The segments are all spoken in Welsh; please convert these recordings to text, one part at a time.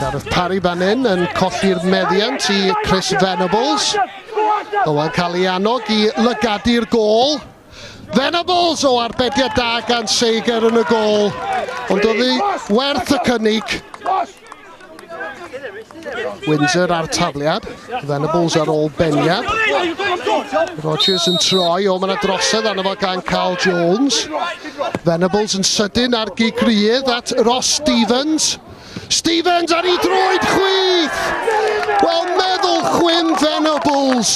Gareth Parry fan hyn yn colli'r meddiant i Chris Venables. Owen cael ei annog i lygadi'r gol. Venables o arbediad da gan Seiger yn y gol, ond oedd hi werth y cynnig. Windsor ar tafliad, Venables ar ôl beniad. Rogers yn troi, o mae'na drosedd arno fo gan Carl Jones. Venables yn sydyn ar gigrydd at Ross Stevens. Stevens ar ei droed chwith! Wel, meddwl chwim Venables.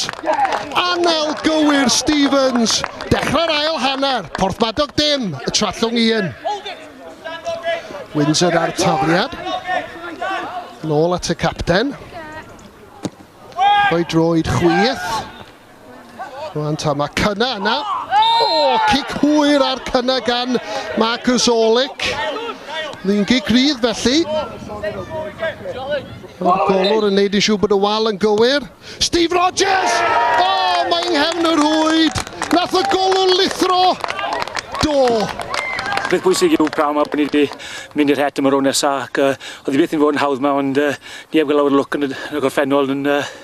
Anel gywir Stevens. Dechrau'r ail hanner. Porthmadog dim, y Trallwng un. Windsor ar tafliad. Nôl at y capten. Rhoi droed chwith. Rwan ta, mae cynna yna. O, oh, cic hwyr ar cynna gan Marcus Olic. Ni'n gig rydd felly. Mae'r golwr yn neud i siw bod y wal yn gywir. Steve Rogers! O, oh, mae nghefn yr hwyd. Nath y golwr lithro. Do. Beth bwysig yw prawn mae ni wedi mynd i'r het am y rown nesaf ac uh, oedd i beth yn fod yn hawdd mae ond uh, ni heb gael awr lwc yn y, y gorffennol yn uh,